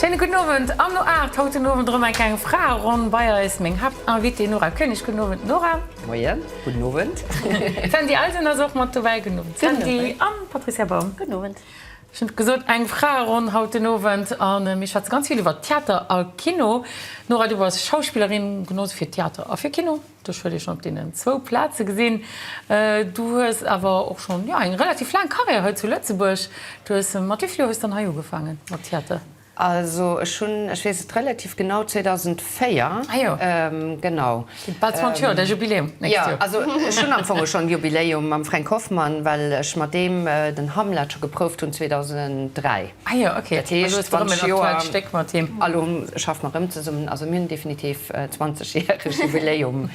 Schéine gudden Owend an No 8 haut den Owend erëm eng kleng Fraeronn bei eis. Meng Haaptinvitée Nora Koenig. Gudden Owend Nora. Moien, gudden Owend. D'Sandy Eisen ass och mat dobäi. Gudden Owend Sandy an Patricia Baum. Gudden Owend. Ech hunn et gesot, eng Fraeronn haut den Owend an mir schwätze ganz vill iwwer Theater a Kino. Nora, du bass Schauspillerin, genooss fir Theater a fir Kino. Dech huet ee schonn op deenen zwou Plaze gesinn. Du hues awer och schonn, jo, eng relativ laang Karriär hei zu Lëtzebuerg. Du hues, mat wéi vill Joer hues dann hei ugefaange mat Theater? Also ech hunn, ech weess et relativ genau, 2004, genau. Gitt bal 20 Joer, däi Jubiläum d'nächst Joer. Jo, also ech hunn am Fong och schonn Jubiläum mam Fränk Hoffmann, well ech mat deem den Hamlet scho geprouft hunn 2003. Ah jo, ok. Dat heescht, et ass erëm en aktuellt Stéck mat him. A lo schaffe mer erëm zesummen. Also mir hunn definitiv e zwanzegjäregt Jubiläum,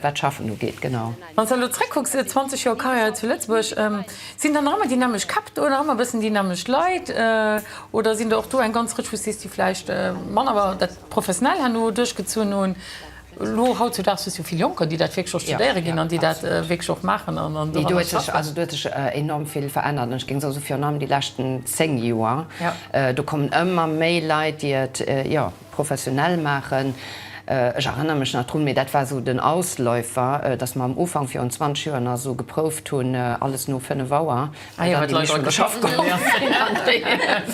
wat d'Schaffen ugeet, genau. Wann s de elo zréckkucks, 20 Joer Karriär zu Lëtzebuerg, sinn dann nach ëmmer déi nämmlecht Käpp do, nach ëmmer e bëssen déi nämmlecht Leit oder sinn der och do eng ganz Rëtsch, wou s de sees, déi vläicht manner dat professionell herno duerchgezunn hunn? Elo hautzudags hues du vill Jonker, déi dat wierklech och studéiere ginn an déi dat wierklech och maachen an doranner schaffen. Nee, do huet sech, also do huet sech enorm vill verännert an ech géing soen, virun allem déi leschten zéng Joer, do kommen ëmmer méi Leit, déi et, jo, professionell maachen. Ech erënnere mech nach drun, mee dat war esou den Ausläufer, dass mer am Ufank virun 20 Joer nach esou geprouft hunn, alles no fënnef Auer. Ah jo, wat d'Leit an de Schaff geholl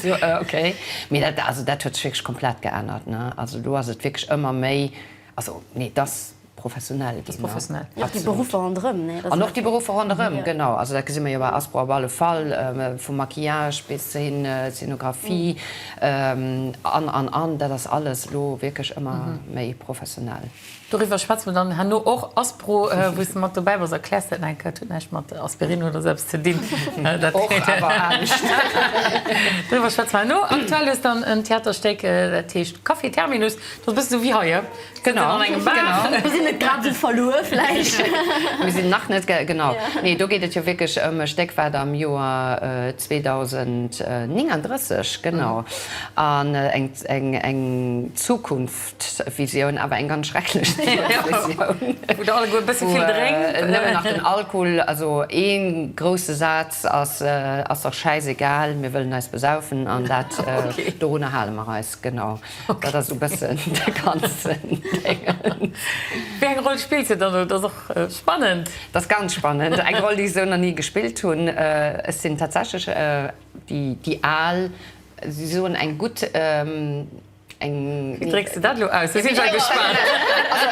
sinn. Okay. Mee dat, also dat huet sech wierklech komplett geännert, ne? Also elo ass et wierklech ëmmer méi, also nee, et ass professionell ginn, ne? Professionell. Jo, och déi Beruffer ronderëm, ne? An och déi Beruffer ronderëm, genau. Also dat gesi mer jo bei Aspro op alle Fall, vum Maquillage bis hin Szenografie an, an, an. Dat ass alles elo wierklech ëmmer méi professionell. Doriwwer schwätze mer dann herno och. Aspro, wou s de mat dobäi bass, erkläers dat nach eng Kéier. Et huet näischt mat Aspirin oder esou eppes ze dinn. Och, awer anescht. Doriwwer schwätze mer herno. Aktuell hues de dann en Theaterstéck, dat heescht Café Terminus. Dat ass e bësse sou wéi hei, kënnt een an engem Bar. Mir sinn net grad esou verluer vläicht. Mir sinn nach net, genau. Nee, do geet et jo wierklech ëm e Stéck, wat am Joer 2039, genau, an eng Zukunft. Visioun, awer eng ganz schrecklech Visioun, wou nëmmen nach den Alkohol, also ee grousse Saz ass, Ass dach schäisegal, mir wëllen eis besaufen an dat, dorunner hale mer eis, genau. Dat ass esou e bëssen de ganzen Déngen. Wéi eng Roll spillt se dann? Dat ass och spannend. Dat ass ganz spannend, eng Roll, déi ech esou nach ni gespillt hunn. Ech sinn tatsächlech déi Al, si soen eng gutt, Wéi drécks de dat elo aus? Do si ech ja gespaant. Also,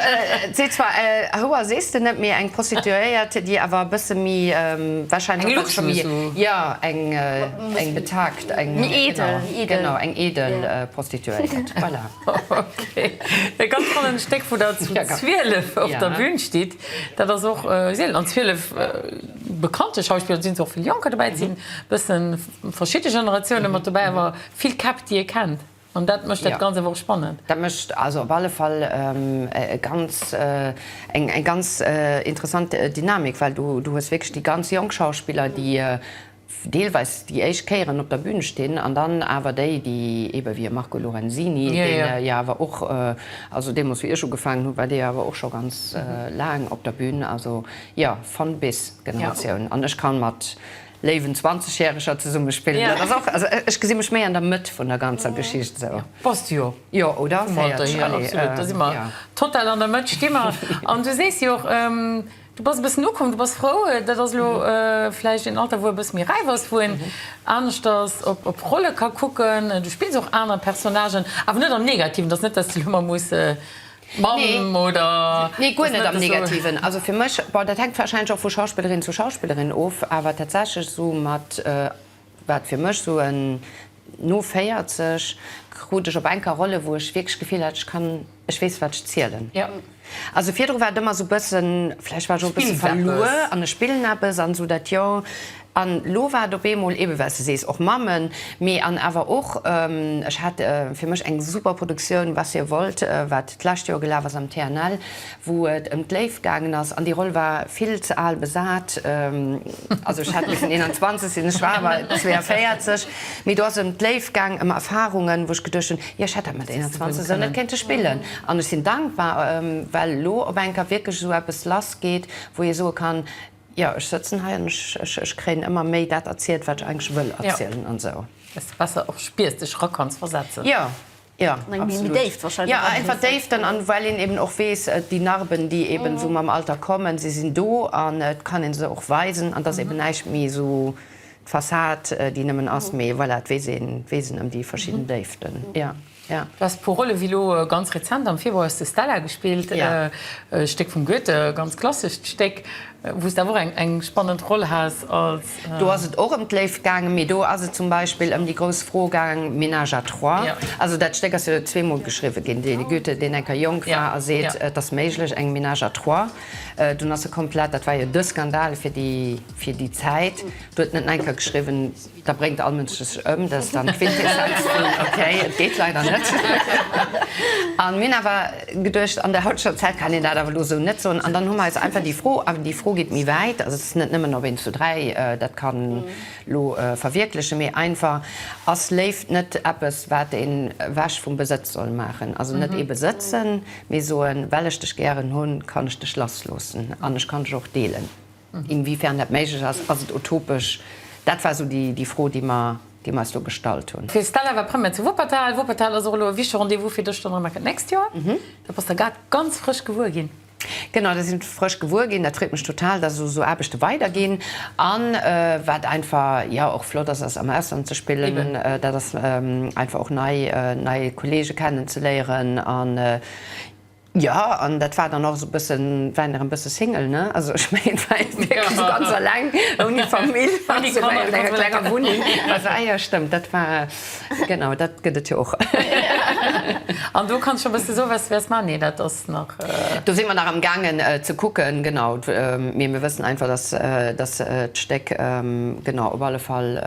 et seet zwar, Houer sees de net, mee eng Prostituéiert, déi awer e bësse méi warscheinlech. Eng luxuös ou? Jo, eng, eng betagd, eng. Méi eedel, eedel. Genau, eng eedel Prostituéiert. Voilà. Okay. E ganz spannend Stéck, wou der zu 12 op der Bühn stitt. Dat ass och seelen. An 12 bekannte Schauspiller, do sinn och vill Jonker dobäi, et sinn e bësse verschidde Generatiounen mat dobäi, awer vill Käpp, déi ee kennt. An dat mécht dat Ganzt awer och spannend. Dat mécht also op alle Fall e ganz, eng ganz interessant Dynamik, well du hues wierklech déi ganz jonk Schauspiller, déi deelweis déi éischt Kéieren op der Bühn stinn, an dann awer déi, déi eebe wéi e Marco Lorenzini, dee jo awer och, also deemoos wéi ech ugefaangen hunn, war dee jo awer och scho ganz laang op der Bühn. Also jo, von-bis-Generatioun. An ech ka mat léiwen Zwanzegjäreger zesummespillen. Dat ass och, also ech gesi mech méi an der Mëtt vun der ganzer Geschicht esou. Bass du jo. Jo, oder? Vum Alter hier, absolut. Da si mer total an der Mëtt, sti mer. An du sees jo och, du bass e bëssen ukomm, du bass frou. Dat ass elo vläicht een Alter, wou e bësse méi räif ass, wou een aneschters op Rolle ka kucken. Du spills och aner Personnagen, awer net am Negativen. Dat ass net, dass de elo ëmmer muss. Mamm oder nee guer net am negativen also fir mech bon dat hänkt wahrscheinlech och vu Schauspillerin zu Schauspillerin of awer tatsächlech sou mat wat fir mech sou en no 40 krut ech op enker Rolle wou ech wierklech d'Gefill hat ech kann ech weess wat ech zielen also virdru war et ëmmer sou bëssen vläicht war ech och e bësse verluer an ech spillen eppes an sou dat jo An lo war et op eemol, eben well s de sees, och Mammen, mee an awer och, ech hat fir mech eng super Produktioun, Was ihr wollt, wat d'lescht Joer gelaf ass am TNL, wou et ëm d'Léift gaangen ass, an déi Roll war vill ze al besat, also ech hätt missen 21 sinn, ech war awer 42, mee do ass et ëm d'Léift gaang, ëm Erfarungen, wou ech geduecht hunn, jo ech hätt dat mat 21 esou net kéinte spillen. An ech sinn dankbar, well lo op eng Kéier wierklech esou eppes lassgeet, wou ee soe kann, Jo, ech sëtzen hei an ech kréien ëmmer méi dat erzielt, wat ech eigentlech wëll erzielen an esou. Dass de besser och spiers, dech erop kanns versetzen. Jo, jo, absolut. Jo, a einfach Déiften an well een eben och weess, déi Narben, déi eben esou mam Alter kommen, se sinn do an et kann ee se och weisen an et ass eben näischt méi esou d'Fassad, déi nëmmen ass, mee voilà, et weess een ëm déi verschidden Déiften. Du has e puer Rolle wéi elo ganz rezent am Februar hues de Stella gespillt, e Stéck vum Goethe, e ganz klassescht Stéck, wou s de awer och eng spannend Roll has als. Do ass et och ëm d'Léift gaangen, mee do ass et zum Beispill ëm déi grouss Fro gaangen, Ménage à trois. Also dat Stéck ass jo zweemol geschriwwe ginn, de Goethe, deen eng Kéier jonk war a seet, et ass méiglech, eng Ménage à trois. Dunn ass e komplett, dat war jo de Skandal fir déi Zäit, do huet en et eng Kéier geschriwwen, Da bréngt all Mënsch dech ëm, dat ass dann d'Quintessenz vun ok, et geet leider net. A mir hunn awer geduecht, an der hautescher Zäit kann een dat awer elo esou net soen. An dann hu mer eis einfach déi Fro, a déi Fro geet méi wäit, also et ass net nëmmen, ob een zu dräi dat kann elo verwierklechen, mee einfach, Ass Léift net eppes, wat een ewech vum Besëtz soll maachen? Also net ee besëtzen, mee soen, well ech dech gären hunn, kann ech dech lass loossen an ech kann dech och deelen. Inwiefern dat méiglech ass? Ass et utopesch? Dat war esou déi Fro, déi mer eis do gestallt hunn. D'Stella war Première zu Wuppertal. Wuppertal ass och elo e wichtege Rendez-vous fir dech dann erëm ecken d'nächst Joer. Dat bass der grad ganz frësch gewuer ginn. Genau, dat sinn ech frësch gewuer ginn. Dat freet mech total, dass elo esou Aarbechte weiderginn. A wat einfach, jo, och flott ass, ass am Ausland ze spillen. Dat ass einfach och nei Kolleege kennen ze léieren. Jo, an dat war dann och esou bësse, war der e bësse Single, ne? Also ech mengen, et war ee wierklech esou ganz alleng, ouni Famill, an enger klenger Wunneng. Also ah jo, stëmmt, dat war, genau, dat gëtt et jo och. An do kanns scho bësse soen, wat s du wäers maachen? Nee, dat ass nach. Do si mer nach am gaangen ze kucken, genau. Mee mir wëssen einfach, dass, dass d'Stéck, genau, op alle Fall,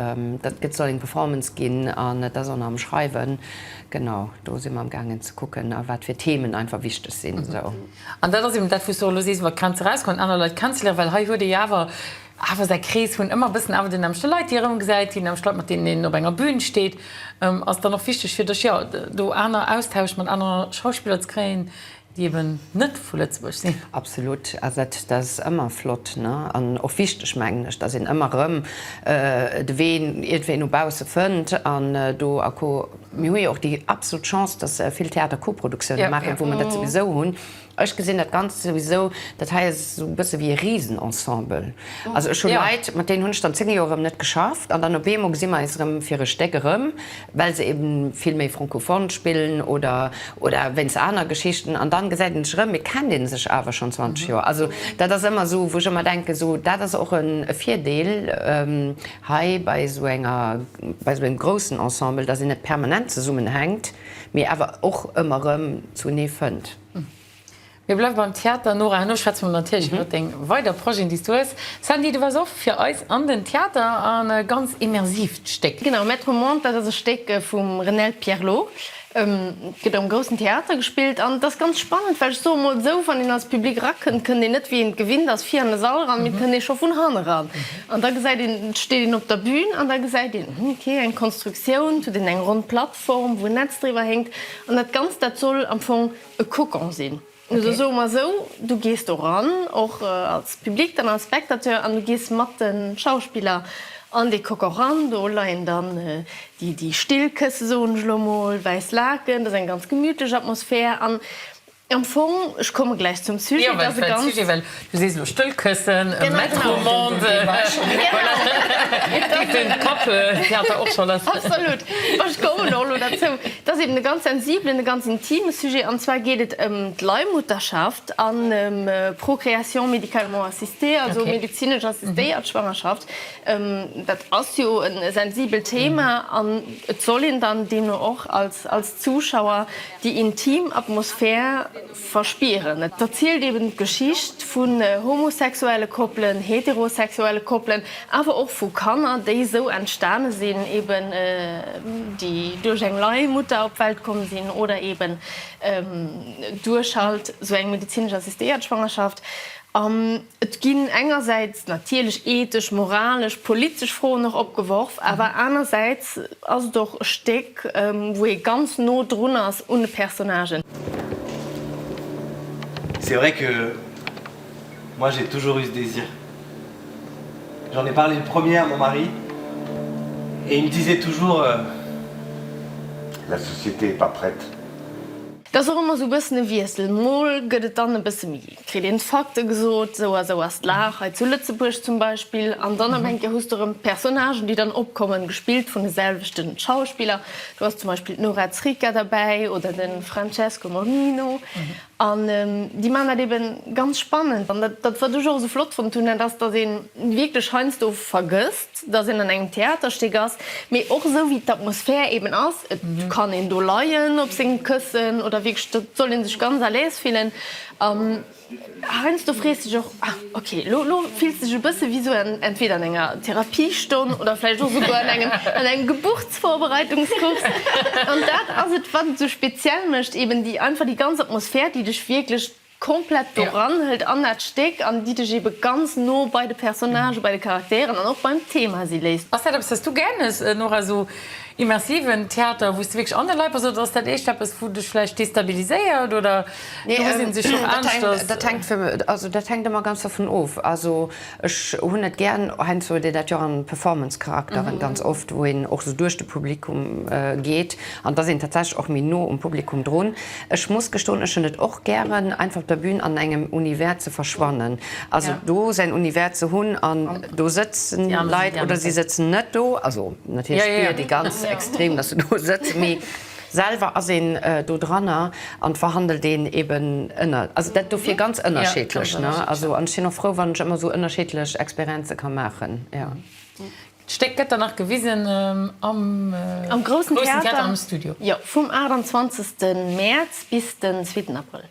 dat gëtt, soll eng Performance ginn, an et ass och nach am Schreiwen. Genau, do si mer am gaangen ze kucken, a wat fir Themen einfach wichteg sinn esou. An dat ass eben dat, wou s du och elo sees, iwwer d'Grenz erauskommen, aner Leit kennenzeléieren, well hei huet ee jo awer awer säi Krees vun ëmmer e bëssen awer den nämmlechte Leit, déi ee erëmgesäit, déi nämmlecht Leit, mat deenen een op enger Bün steet. Ass dann och wichteg fir dech, jo, do aner Austausch mat aner Schauspiller ze kréien, déi eben net vu Lëtzebuerg sinn. Absolut, dat ass ëmmer flott an och wichteg, mengen ech, datt een ëmmer erëm de Wee iergendwéi no bausse fënnt an do a co. Mir hu jo och déi absolut Chance, datt vill Theater Koproduktiounen maachen, wou mer dat souwisou hunn. Ech gesinn dat Ganzt souwisou, dat hei ass esou e bësse wéi e Risen-Ensemble. Also ech hu Leit, mat deenen hunn ech dann zéng Joer erëm net geschafft an dann op eemol gesi mer eis erëm fir e Stéck erëm. well se eben vill méi francophone spillen oder oder wéinst aner Geschichten an dann gesäit een sech erëm, et kennt een sech awer schonn 20 Joer. Also dat ass ëmmer esou wou ech ëmmer denken esou dat ass och e Virdeel hei bei esou enger bei esou engem groussen Ensemble, datt een net permanent zesummenhänkt mee awer och ëmmer erëm zunee fënnt. Mir bleiwe beim Theater. Nora, herno schwätze mer natierlech iwwer deng weider Projeten, déi s du hues. Sandy, du waars och fir eis an den Theater an e ganz immersiivt Stéck. Genau, Maître au monde, dat ass e Stéck vum Renel Pierlot. Et gëtt am Groussen Theater gespillt an et ass ganz spannend, well ech soe mol esou, wann een als Public erakënnt, kënnt een net, wéi een et gewinnt ass, vir an de Sall eran, mee et kënnt ee scho vun hanne ran. An da gesäit een, steet een op der Bün an da gesäit een, hm, okay, eng Konstruktioun, et huet een eng ronn Plattform, wou en Netz driwwer héngt an dat Ganzt, dat soll am Fong. e Cocon sinn. Also soe mer esou, du gees do ran, och als Public dann, als Spectateur, an du gees mat de Schauspiller an dee Cocon ran. Do leien dann déi still Kësse, soen ech elo emol, wäiss Laken, dat ass eng ganz gemütlech Atmosphär. An am Fong, ech komme gläich zum Sujet, dat ass e ganz. Du sees elo stëll këssen, e Metro-Monde, voilà, et geet den Kapp, dir hat der och scho lass. Absolut, ma ech kommen och elo derzou. Et ass eben e ganz sensiblen, e ganz intime Sujet, an zwar geet et ëm d'Leihmutterschaft an ëm Procréation médicalement assistée, also medezinesch assistéiert Schwangerschaft. Dat ass jo e sensibelt Thema an et soll een dann deemno och als Zuschauer déi intim Atmosphär, Verspieren. Et erzielt eben d'Geschicht vun homosexuelle Koppelen, heterosexuelle Koppelen, awer och vu Kanner, déi esou entstane sinn, eben déi duerch eng Leihmutter op d'Welt komm sinn oder eben duerch halt esou eng medezinesch assistéiert Schwangerschaft. Et ginn engersäits natierlech ethesch, moralesch, politesch Froen och opgeworf, awer anersäits ass et och e Stéck, wou ee ganz no drun ass un de Personnagen. C'est vrai que moi j'ai toujours eu ce désir. J'en ai parlé le premier à mon mari et il me disait toujours, la société est pas prête. Dat ass och ëmmer esou e bëssen e Wiessel, mol gëtt et dann e bësse méi, kritt een d'Fakte gesot, sou a sou ass d'Lag hei zu Lëtzebuerg zum Beispill, an dann op eng Kéier hues du erëm Personnagen, déi dann opkommen, gespillt vun de selwechte Schauspiller, do ass zum Beispill d'Nora Zricca derbäi oder de Francesco Morlino, an déi maachen dat eebe ganz spannend, an dat, wat ech och esou flott fonnt hunn, dat ass, datt ee wierklech heiansdo vergësst, dass een an engem Theaterstéck ass, mee och esou wéi d'Atmosphär eben ass, et kann een do leien op senge Këssen oder wierklech et soll ee sech ganz à l'aise fillen an heiansdo frees de dech och, ah ok lo lo fills de dech e bësse wéi esou entweder an enger Therapiestonn oder vläicht och esouguer an engem an engem Geburtsvorbereitungskurs an dat ass et wat et esou speziell mécht, eben déi einfach déi ganz Atmosphär, déi dech wierklech Komplett doran hëlt an dat Stéck an déi dech ebe ganz no bei de Personnagë, bei de Charakteren an och beim Thema si léisst. Ass dat eppes, wat s du gär hues, Nora, esou immersiven Theater, wou s de wierklech an de Leit bass, oder ass dat eescht eppes, wou dech vläicht destabiliséiert oder do hues een sech och aneschters? Dat hänkt ëmmer ganz dervun of. Ech hunn net gären, heiansdo huet een dat jo an Performance-Charakteren ganz oft, wou een och sou duerch de Publikum geet an et ass een tatsächlech och méi no um Publikum drun. Ech muss gestoen, ech hunn et och gären, einfach op der Bühn an engem Univers ze verschwannen, also do säin Univers ze hunn an do sëtzen Leit oder si sëtzen net do, also natierlech spir déi ganz extrem, dass se do sëtzen, mee. Selwer ass een do dranner an d'verhandelt een eben ënner, also dat dofir ganz ënnerscheedlech, ne? Also an ech sinn och frou, wann ech ëmmer esou ënnerscheedlech Experienze ka maachen, jo. D'Stéck gëtt dann nach gewisen am Groussen Theater am Studio. Jo, vum 28. Mäerz bis den zweeten Abrëll.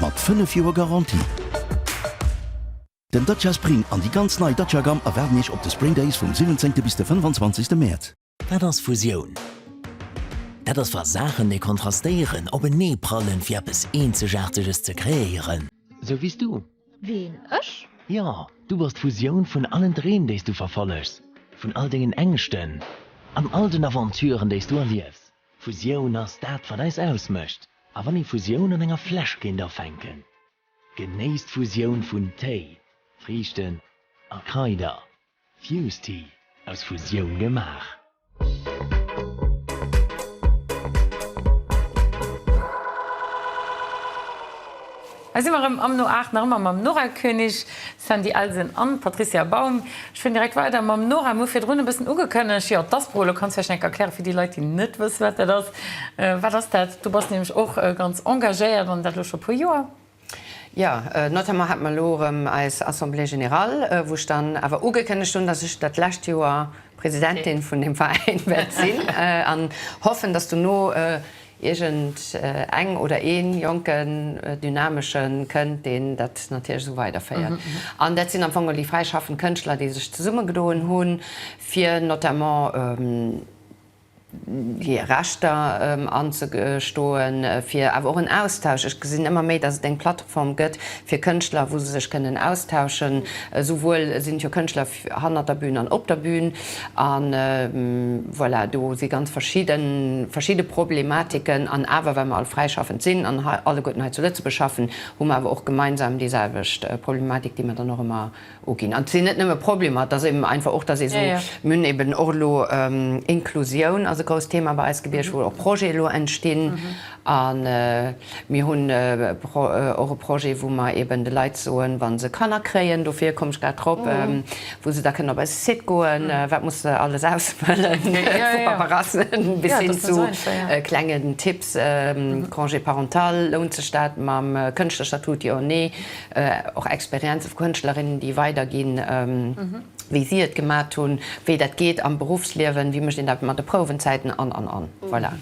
Mat 5 Joer Garantie. Den Dacia Spring an déi ganz nei Dacia Gamme erwaarden Iech op de Spring Days vum 17 bis de 25 Mäerz. Wat ass Fusioun? Dat ass wa Saachen déi kontrastéieren openee prallen fir eppes eenzegaarteges ze kreéieren. Sou wéi's du. Ween? Ech? Jo, du bass d'Fusioun vun allen Dreem déi's du verfollechs, vun all dengen Ängschten an all den Aventuren déi's du erliefs. Fusioun ass dat wat eis ausmécht a wann ee Fusioun an enger Fläsch kéint afänken, genéisst d'Fusioun vun Téi, Friichten a Kraider, Fused Tea, aus Fusioun gemaach. Hei si mer erëm am No 8, nach ëmmer mam Nora Koenig, Sandy Elsen an Patricia Baum. Ech fueren direkt weider mam Nora. Mir hu virdrun e bëssen ugekënnegt, jo, d'Aspro, elo kanns du vläicht nach eng Kéier erklären, fir déi Leit, déi net wëssen, wat dat ass. Wat ass dat? Du bass nämlech och ganz engagéiert an dat elo scho e puer Joer. Jo, notamment hate mer elo erëm eis Assemblée générale, wou ech dann awer ugekënnegt hunn, dass ech dat lescht Joer Presidentin vun deem Veräin wäert sinn an hoffen, dass dono Iergend eng oder ee jonken, dynameschen kënnt, deen dat natierlech esou weiderféiert. An dat sinn am Fong elo déi fräi schaffend Kënschtler, déi sech zesummegedoen hu fir notamment hir Rechter anzestoen, fir awer och en Austausch. Ech gesinn ëmmer méi, datt et eng Plattform gëtt fir Kënschtler, wou se sech kënnen austauschen. Esouwuel sinn et jo Kënschtler, Hannert der Bühn an op der Bühn. A voilà, do si ganz verschidde Problematiken. An awer, well mer all fräischaffend sinn an alleguerten hei zu Lëtzebuerg schaffen, hu mer awer och gemeinsam déi selwecht Problematik, déi mer dann och ëmmer uginn. An et sinn net nëmme Problemer, et ass eben einfach och, dass ee sou mün. Eben och elo Inklusioun ass e grousst Thema bei eis, Gebierg, wou och Projete elo entstinn. A mir hunn och e Projet, wou mer eeben de Leit soen, wa se Kanner kréien, dofir komm ech grad drop, wou se da kënnen op eise Site goen, wat muss se alles ausfëllen, vu Paperrasse bis hin zu klengen Tipps, Congé parental, lount sech dat mam Kënschtlerstatut, jo, nee, och Experienze vu Kënschtlerinnen, déi weiderginn, wéi si et gemat hunn, wéi dat geet am Beruffsliewen, wéi mécht een dat mat de Prouwenzäiten an, an, an. Voilà.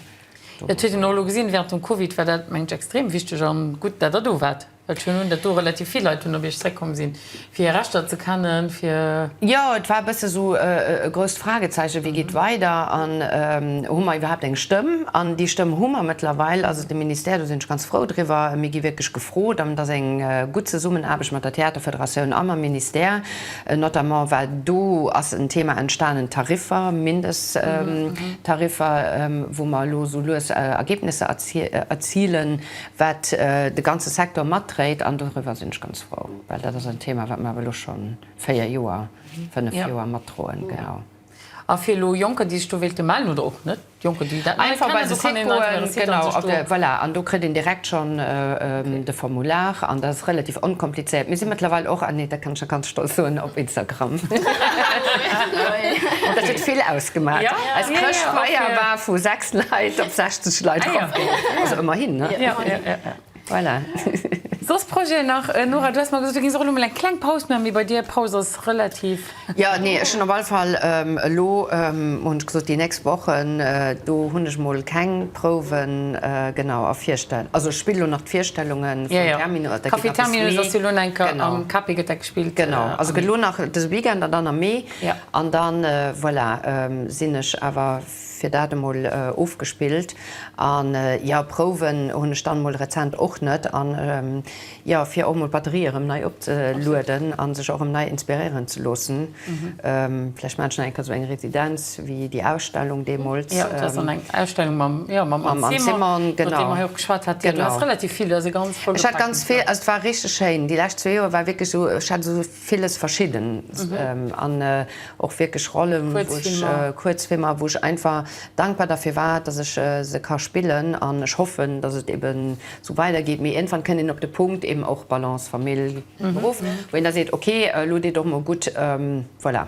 Et huet een och elo gesinn, während dem Covid war dat, mengen ech, extrem wichteg a gutt, datt Der do waart, well ech hunn dat do, relativ vill Leit hunn op Iech zréckkomm sinn, fir hir Rechter ze kennen, fir. Jo, et war e bësse sou e grousst Fragezeichen, wéi geet weider an hu mer iwwerhaapt eng Stëmm? An déi Stëmm hu mer mëttlerweil, also de Ministère, do sinn ech ganz frou driwwer. Mir gi wierklech gefrot an et ass eng gutt Zesummenaarbecht mat der Theaterfederatioun a mam Ministère, Notamment well do ass en Thema entstanen, d'Tariffer, Mindesttariffer, wou mer elo esou lues Ergebnisser erzilen, wat de ganze Secteur matdréit. An doriwwer sinn ech ganz frou, well dat ass en Thema, wat mer awer elo scho véier Joer, fënnef Joer matdroen. Genau. A fir elo Jonker, déi sech do wéilte mellen, oder och net Jonker, déi dat einfach bei de Site goen, genau, voilà, an do kritt een direkt schonn de Formular an dat ass relativ onkomplizéiert. Mir si mëttlerweil och, ah nee, dat kann ech jo ganz stolz soen, op Instagram. Dat huet vill ausgemaach. Eis Chrëschtfeier war vu sechs Leit op 60 Leit erofgaangen, also ëmmerhin, ne? Voilà. Soss Projeten nach? Nora, du has mer gesot, do ginn se och elo mol eng kleng Paus man, mee bei dir, Paus ass relativ. Jo, nee, ech hunn op alle Fall elo, hunn ech gesot, déi nächst Wochen, do hunn ech mol keng Prouwen, genau, a Virstell, also ech spillen elo nach d'Virstellunge vum Terminus, dat gëtt nach e bëssen méi. Café Terminus ass jo elo nach eng Kéier, genau, am Cape gëtt dat gespillt. Genau, also gëtt elo nach dëse Weekend an dann am Mee an dann, voilà, sinn ech awer. Fir dat emol ofgespillt. An jo, Prouwen hunn ech dann emol rezent och net. An jo, fir och emol d'Batterie erëm nei opzelueden an sech och erëm nei inspiréieren ze loossen. Vläicht maachen ech nach eng Kéier esou eng Residenz wéi déi Ausstellung deemools. Jo, dat ass dann eng Ausstellung mam, jo, mam Anne Simon. Mam Anne Simon, genau. Iwwer déi mer jo och geschwat haten. Genau. Du has relativ vill, du has e ganz vollgepaakten Plan. Ech hat ganz vill, also et war richteg schéin. Déi lescht zwee Joer war wierklech esou, ech hat esou Villes Verschiddenes an och wierklech Rollen, Kuerzfilmer, wou ech einfach dankbar derfir war, dass ech se ka spillen an ech hoffen, dass et eben esou weidergeet. Mee iergendwann kënnt een op de Punkt, eben och Balance Famill, Beruff, wou een da seet, okay, elo deet och mol gutt. Voilà.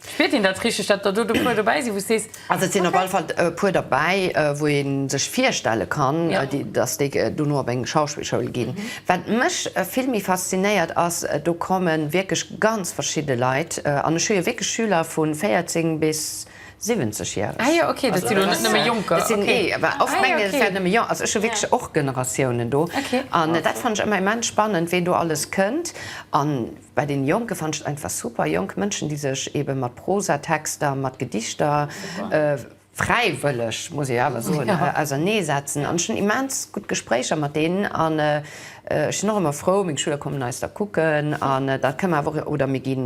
Fiert een dat richteg, dat der do e puer dobäi sinn, wou s de sees? Also et sinn op alle Fall e puer dobäi, wou ee sech virstelle kann, datt déi dono op eng Schauspillschoul ginn. Wat mech vill méi faszinéiert ass, do komme wierklech ganz verschidde Leit an ech hu jo wierklech Schüler vu 14 bis 70 Jären. Ah jo, ok, dat si jo net nëmme Jonker. Nee, well oft mengen ech, et wären nëmme Jonker. Also ech hu wierklech och Generatiounen do an dat fannen ech ëmmer immens spannend, ween do alles kënnt. Bei den Jonken fannen ech et einfach super, jonk Mënschen déi sech eben mat Prosatexter, mat Gedichter fräiwëlleg, muss ech awer soen, ausernee setzen an ech hunn immens gutt Gespréicher mat deenen an ech sinn och ëmmer frou, meng Schüler kommen eis da kucken an da kënne mer awer och, oder mir gi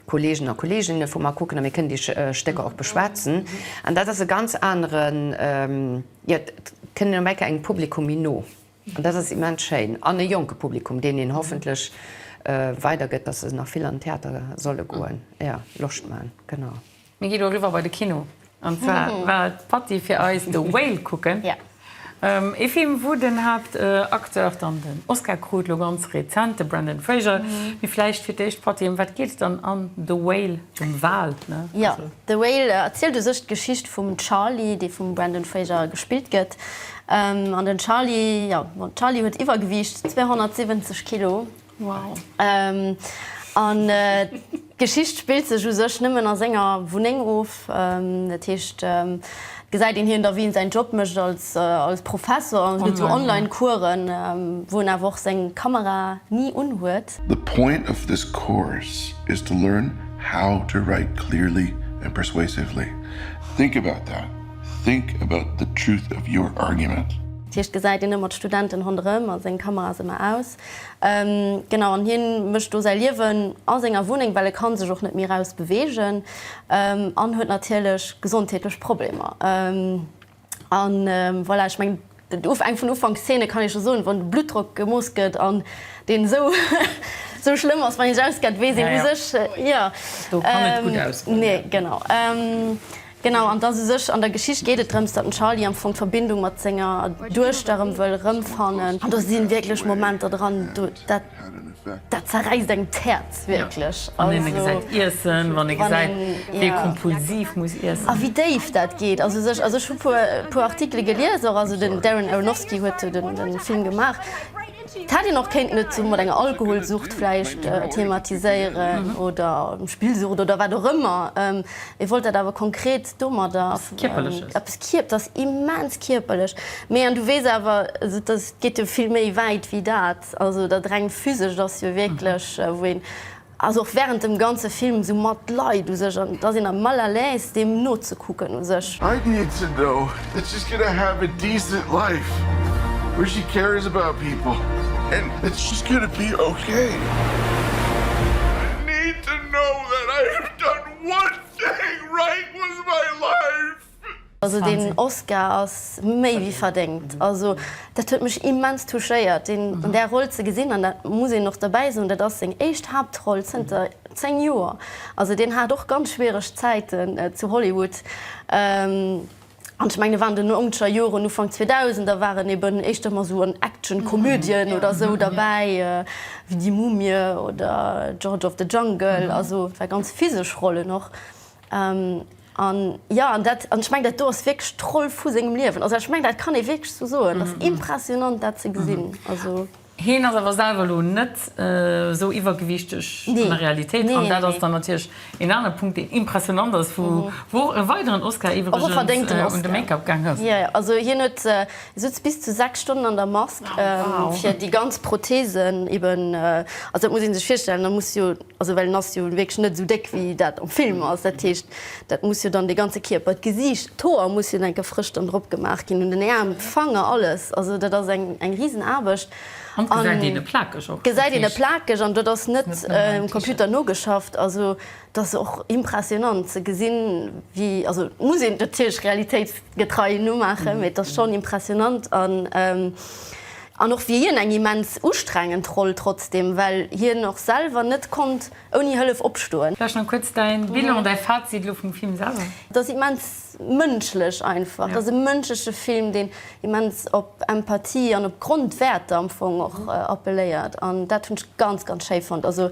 Kollegen a Kolleeginne vu mer kucken a mir kënnen déi Stécker och beschwätzen an dat ass e ganz aneren, jo et kënnt een op eng Kéier engem Publikum méi no. An dat ass immens schéin. An e jonke Publikum, deen een hoffentlech weidergëtt, dass se nach vill an den Theater solle goen, jo, Loscht man. Genau. Mir gi lo eriwwer bei de Kino. An zwar war d'Patty fir eis The Whale kucken. Ee Film, wou den Haaptacteur dann den Oscar krut, lo ganz rezent, de Brendan Fraser. Mee vläicht fir d'éischt, Patty, ëm wat geet et dann an The Whale, dem Wal? Jo, The Whale erzielt u sech d'Geschicht vum Charlie, dee vum Brendan Fraser gespillt gëtt. An den Charly, jo den Charly huet Iwwergewiicht, 270 Kilo. Wow. An d'Geschicht spillt sech u sech nëmmen a senger Wunneng of. Dat heescht et gesäit een hien da wéi en säin Job mécht als Professor an gëtt esou online Coursen, wou en awer och seng Kamera ni unhuet. The point of this course is to learn how to write clearly and persuasively. Think about that. Think about the truth of your argument. Hie gesäit een ëmmer d'Studenten ronderëm a seng Kamera ass ëmmer aus. Genau, an hien mécht do säi Liewen a senger Wunneng, well e kann sech och net méi raus beweegen an huet natierlech gesondheetlech Problemer. An voilà, ech mengen. Den Ufänk vun Ufankszene kann ee scho soen, wann de Bluttdrock gemooss gëtt an deen esou esou schlëmm ass, wann een sech auskennt, weess een u sech, jo, do kann net gutt ausgoen, nee, genau, genau, an dass u sech an der Geschicht geet et drëms, datt den Charlie am Fong d'Verbindung mat senger Duechter erëm wëll erëmfannen an do si wierklech Momenter dran, do dat Dat zerräisst engem d'Häerz wierklech. Ja, wann een e gesäit iessen, wann ee gesäit, wéi e kompulsiv muss iessen. A wéi déif dat geet. Also sech, also ech hu puer, puer Artikele gelies och, also den Darren Aronofsky huet jo den, den Film gemaach. Et hätt een och kéinten et sou mat enger Alkoholsucht vläicht thematiséieren oder Spillsucht oder wat och ëmmer. Et wollt dat awer konkret domadder. Eppes Kierperleches. Eppes Kierp, dat ass immens kierperlech. Mee an du weess awer, also dat geet jo vill méi wäit wéi dat. Also dat reng physescht ass jo wierklech wou een, also och während dem ganze Film esou matleid u sech an et ass een am mal à l'aise deem nozekucken u sech. I'd need to know that she's gonna have a decent life where she cares about people and that she's gonna be okay. I'd need to know that I have done one thing right with my life. Also deen Oscar ass méi wéi verdéngt. Also dat huet mech immens touchéiert deen an där Roll ze gesinn an dat muss een och dobäi soen, dat ass seng éischt Haaptroll zënter 10 Joer. Also deen hat och ganz schwiereg Zäiten zu Hollywood an ech mengen et waren den Outscher Joren, Ufank 2000, da waren eben éischter mol esou an Action-Komödien oder esou derbäi wéi Die Mumie oder George of the Jungle, also et war ganz physesch Rollen och. An jo, an dat, an ech mengen, dat do ass wierklech d'Roll vu sengem Liewen. Also ech mengen, dat kann ee wierklech esou soen. Dat ass impressionant, dat ze gesinn. Also. Heen ass awer selwer elo net esou iwwergewiichteg an der Realitéit. Nee, nee, nee. An dat ass dann natierlech een anere Punkt, deen impressionant ass, wou och e weideren Oscar iwwregens. Och e verdéngten Oscar. Un de Make-up gaang ass. Jo, jo. Also hien huet, e souz bis zu sechs Stonnen an der Mask. Wow! Fir déi ganz Protheesen eben, also dat muss ee sech virstellen, da muss jo Also well en ass jo wierklech net esou déck wéi dat am Film ass. Dat heescht, dat muss jo dann de ganze Kierper, d'Gesiicht, d'Hoer muss jo dann gefrëscht dann drop gemaach ginn, un den Äerm, Fanger, alles. Also dat ass eng eng Risenaarbecht. An d'gesäit een e plakeg och. Gesäit een e plakeg an dat ass net um Computer nogeschafft. Also et ass och impressionnant ze gesinn wéi, also et muss een natierlech realitéitsgetrei nomaachen, mee et ass schonn impressionnant. An An och wier hien eng immens ustrengend Roll trotzdem, well hien och selwer net konnt ouni Hëllef opstoen. Vläicht nach kuerz däin Bilan, däi Fazit elo vum Film selwer? Et ass immens mënschlech einfach. Et ass e mënschleche Film, deen immens op Empathie an op Grondwäerter am Fong och appelléiert. An dat hunn ech ganz, ganz schéi fonnt. Also.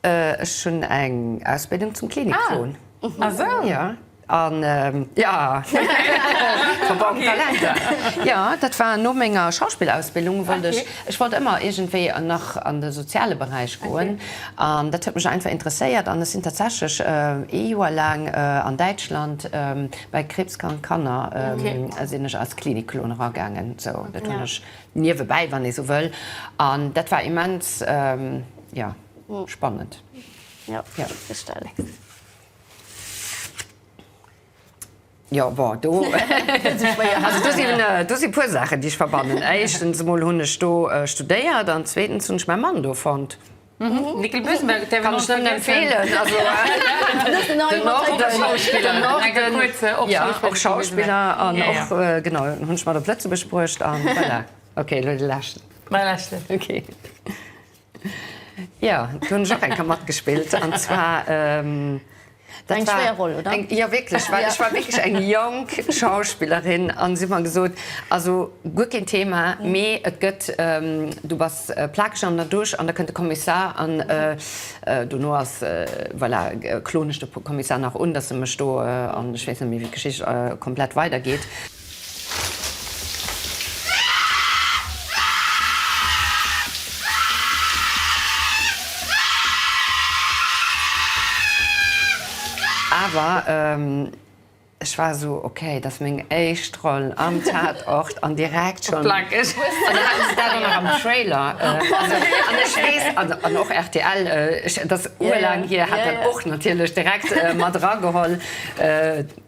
Ech hunn eng Ausbildung zum Klinikfon. Ah, ah sou? Ja. An, ja, verborgen Talenter. Jo, dat war no menger Schauspillausbildung, wollt ech, ech wollt ëmmer iergendwéi nach an de soziale Beräich goen. An dat huet mech einfach interesséiert. An ech sinn tatsächlech ee Joer laang an Däitschland bei kriibskrank Kanner, sinn ech als Klinikklon eragaangen. Sou, dat hunn ech niewebäi, wann ee sou wëll. An dat war immens. Ja, spannend. Jo, Feststellung. Jo, bon, do gëtt se schwéier. Also do sinn, do si puer Saachen, déi ech verbannen. Éischtens emol hunn ech do studéiert an zweetens hunn ech mäi Mann do fonnt. Nickel Bösenberg, däi kann ech nëmmen empfeelen. Also den Norden, ja, och Schauspiller an och, genau, hunn ech mat op Lëtzebuerg bruecht an voilà. Ok, elo de leschten. Mäi leschten. Ok. Jo, do hunn ech och eng Kéier matgespillt an zwar, dat war. Eng schwéier Roll, oder? Jo, wierklech, well ech war wierklech eng jonk Schauspillerin an si hu mer gesot, also guer keen Thema, mee et gëtt, du bass plakeg an der Dusch an da kënnt de Kommissar an dono ass, voilà, kloen ech de Kommissar nach un, dass e mech do, an ech weess net méi, wéi d'Geschicht komplett weidergeet. Awer ech war esou, ok, et ass meng éischt Roll am Tatort an direkt schonn. Plackeg. An da haten se dat och nach am Trailer. Also an ech weess, an och rtl, et ass urlaang hier, hat dat och natierlech direkt mat erageholl.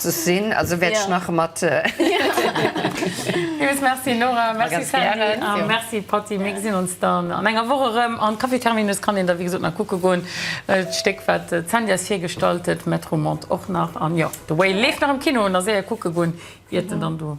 ze sinn, also wäert ech nach mat. Villes Merci Nora, merci Sandy a merci Patty. Mir gesinn ons dann an enger Woch erëm. An Café Terminus kann een da wéi gesot nach kucke goen. D'Stéck wat d'Sandy eis virgestallt huet, Metro Monde och nach. An jo, The Whale leeft nach am Kino, nach séier kucke goen iert en dann do.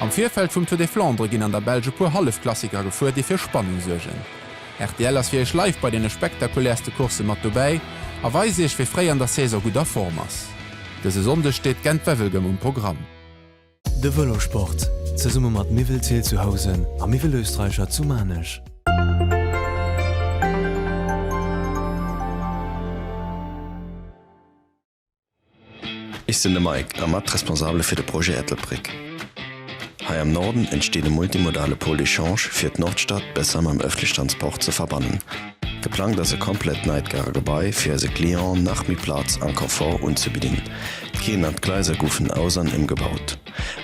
Am Virfeld vum Tour des Flandres ginn an der Belsch e puer Hallefklassiker gefuer, déi fir Spannung suergen. Rtl ass fir Iech live bei deene spektakulärste Coursse mat dobäi a weist Iech, wee fréi an der Saison gutt a Form ass. Dëse Sonndeg steet Gent-Wevelgem um Programm. De Vëlosport, zesumme mat Miwelzeel zu Housen a Miwelösterreicher zu Maarnech. Ech sinn de Mike a mat Responsabele fir de Projet Ettelbréck. Hei am Norden entsteet e multimodale Pôle d'échange fir d'Nordstad besser mam ëffentlech Transport ze verbannen. Geplangt ass e komplett neit Gare Gebai fir eise Clienten nach méi Plaz an Confort unzebidden. D'Keeën an d'Gleiser goufen aus an ëmgebaut.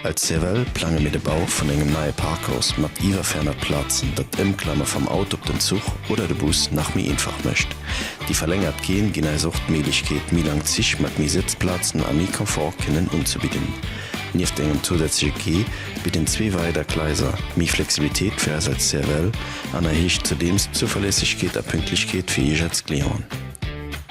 Als CEVEL plange mir de Bau vun engem neie Parkhaus mat iwwer 400 Plazen, dat d'Ëmklamme vam Auto op den Zuch oder de Bus nach méi einfach mécht. Déi verlängert Quaien ginn eis och d'Méiglechkeet, méi lang Zich mat méi Sëtzplazen a méi Confort kënnen unzebidden. Nieft engem zousätzleche Quai bidden zwee weider Gleiser méi Flexibilitéit fir eis als CEVEL an erhéicht zudeems d'Zuverlässegkeet a Pünktlechkeet fir Iech als Clienten.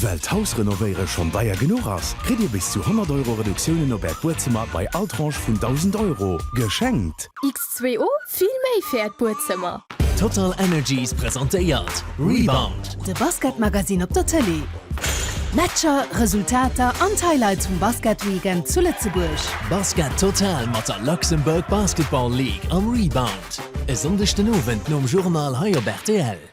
Well d'Hausrenovéiere schonn deier genuch ass, kritt Dir bis zu 100 Euro Reduktiounen op Äert Buedzëmmer bei all Tranche vun 1.000 Euro geschenkt. X2O, vill méi fir Äert Buedzëmmer! TotalEnergies presentéiert Rebound. De Basketmagazine op der Tëlee. Matcher, Resultater an d'Highlights vum Basketweekend zu Lëtzebuerg. Basket Total mat der Luxembourg Basketball League am Rebound. E Sonndeg den Owend nom Journal hei op rtl.